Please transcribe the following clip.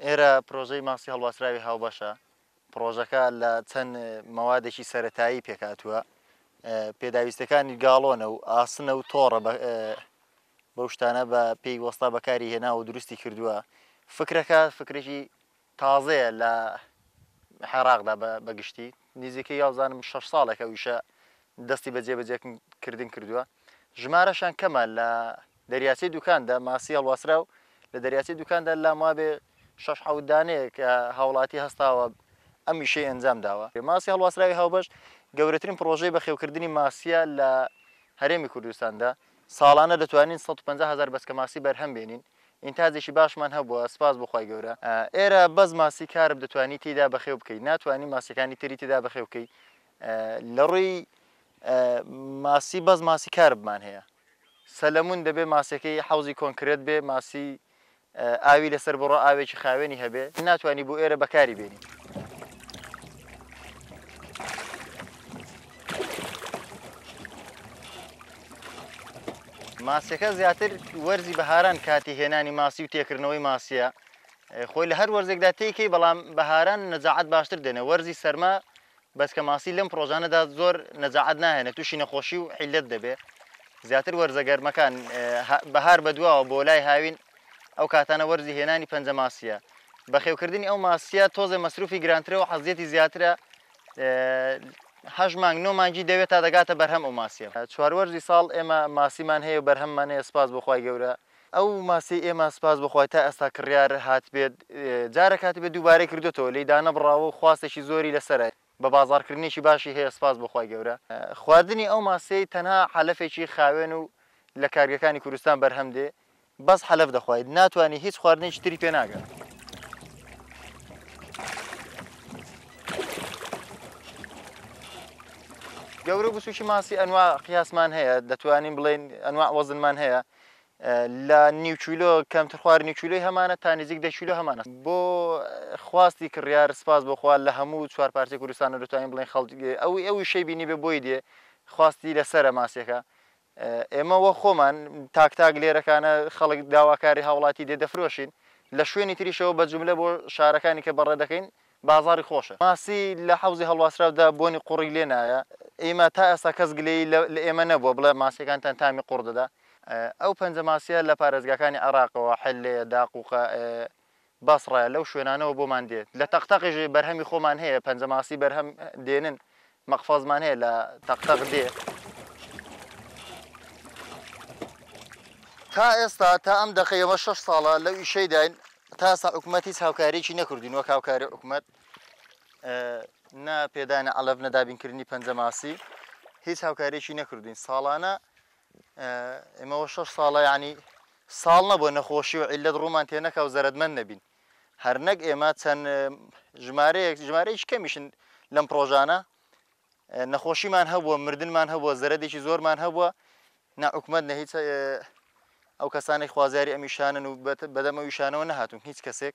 ئێرە پرۆژەی ماسی هەڵواسراوی هاوبەشە پرۆژەکە لە چەند مەوادێکی سەتایی پێکاتوە پێداویستەکانی گاڵۆنە و ئاسنە و تۆڕە بەو شتانە بە پێی وەستا بەکاری هێنا و دروستی کردووە فکرەکە فکرێکی تازەیە لە عێراقدا بە گشتی نیزیکەی وابزانم شەش ساڵێک ئەو ئیشە دەستی بە جێبەجێ کردن کردووە ژمارەشان کەمە لە دەریاچەی دوکاندا ماسی هەڵواسرا و لە دەریاچەی دوکاندا لام وابێ شەش حەوت دانەیەک هاوڵاتی هەستاوە ئەم ئیشەی ئەنجام داوە ماسی هەڵواسراوی هاوبەش گەورەترین پڕۆژەی بەخێوکردنی ماسیە لە هەرێمی کوردستاندا ساڵانە دەتوانین 150 هەزار بەچکە ماسی بەرهەم بێنین ئینتاجێکی باشمان هەبووە سوپاس بۆ خوای گەورە ئێرە بەس ماسی کارپ دەتوانی تێیدا بەخێو بکەی ناتوانی ماسیەکانی تری تێدا بەخێو بکەی لە ڕووی ماسی بەس ماسی کارپمان هەیە سەلەمون دەبێ ماسیەکەی حوزی کۆنکرێت بێ ماسی ئاوی لەسەر بڕۆ ئاوێکی خاوێنی هەبێ ناتوانانی بۆ ئێرە بەکاری بێنی ماسیەکە زیاتر وەرزی بەهاران کاتی هێنانی ماسی و تێکردنەوەی ماسیە خۆی لە هەر وەرزێکدا تێکەی بەڵام بەهاران نەجاعات باشتر دێنێ وەرزی سەرما بەسکە ماسی لەم پرۆژانەدا زۆر نەجاعات ناهێنێت تووشی نەخۆشی و حیلت دەبێ زیاتر وەرزە گەرمەکان بەهار بەدواوە بۆ لای هاوین ئەو کاتانە وەرزی هێنانی پەنجە ماسیە بەخێوکردنی ئەو ماسیە تۆزێ مەسروفی گرانترە و حەزیەتی زیاترە هەشت مانگ نۆ مانگی دەوێت تا دەگاتە بەرهەم ئەو ماسیە چوار وەرزی ساڵ ئێمە ماسیمان هەیە و بەرهەممان هەیە سپاس بۆخوای گەورە ئەو ماسی ئێمە سپاس بخوای تا ئێستا کڕیار هاتبێت جارە کاتی بە دووبارەی کردوتەوە لی دانەبڕاوە و خواستێکی زۆری لەسەرە بە بازاڕکردنێکی باشی هەیە سپاس بخوای گەورە خواردنی ئەو ماسیەی تەنها عەلەفێکی خاوێن و لە کارگەکانی کوردستان بەرهەم دێ بەس حەلەف دەخوای ناتوانی هیچ خواردنێکی تری پێ ناگا. گەورە بچوکی ماسی ئەنوا قیاسمان هەیە دەتوانین بڵێن ئەنوا وەزنمان هەیە لە نیوچولۆ کەمتر خوار نیوچولۆی هەمانە تا نزیک دەچولۆ هەمانە بۆ خواستی کڕیار سپاس بۆخوا لە هەموو چوار پارتی کوردستان دەتوانین بڵێن خەڵک ئەو ئەوی شەی بینی بێ بۆی دێ خواستی لەسرە ماسیەکە ئێمە وە خۆمان تاک تاک لێرەکانە خەڵک داواکاری هاوڵاتی دێ دەفرۆشین لە شوێنی تریشەوە بە جوملە بۆ شارەکانی کە بەڕێ دەکەین بازاڕی خۆشە. ماسی لە حەوزی هەڵواسراودا بۆنی قوڕی لێ نایە ئێمە تا ئێستا کەس گلەیی لە ئێمە نەبووە بڵێ ماسیەکانتان تامی قوڕ دەدا ئەو پەنجە ماسیە لە پارێزگاکانی عێراقەوە حلێ داقوقە بەسڕە لەو شوێنانەوە بۆمان دێ. لە تەق تەقیش بەرهەمی خۆمان هەیە، پەنجەماسی بەرهەم دێنن، مەقفەزمان هەیە لە تەق تەق دێ. تا ئێستا تا ئەم دەقەی ئێمە شەش ساڵە لەو ئیشەیداین، تا ئێستا حکومەت هیچ هاوکارییەکی نەکردووین وەک هاوکاری حکومەت، نە پێدانی عەلەف، نە دابینکردنی پەنجەماسی، هیچ هاوکارییەکی نەکردووین. ساڵانە ئێمەوە شەش ساڵە یانی ساڵ نەبووە نەخۆشی و عیلەت ڕوومان تێ نەکا و زەرەدمەند نەبین هەرنەک ئێمە چەند ژمارەیەک ژمارەیەکی کەمیشن لەم پرۆژانە نەخۆشیمان هەبووە مردنمان هەبووە زەرەدێکی زۆرمان هەبووە نەعکومەت نە هیچ ئەو کەسانی خوازیاری ئەمیشانن و بەدەمە ویشانەوە نەهاتون هیچ کەسێک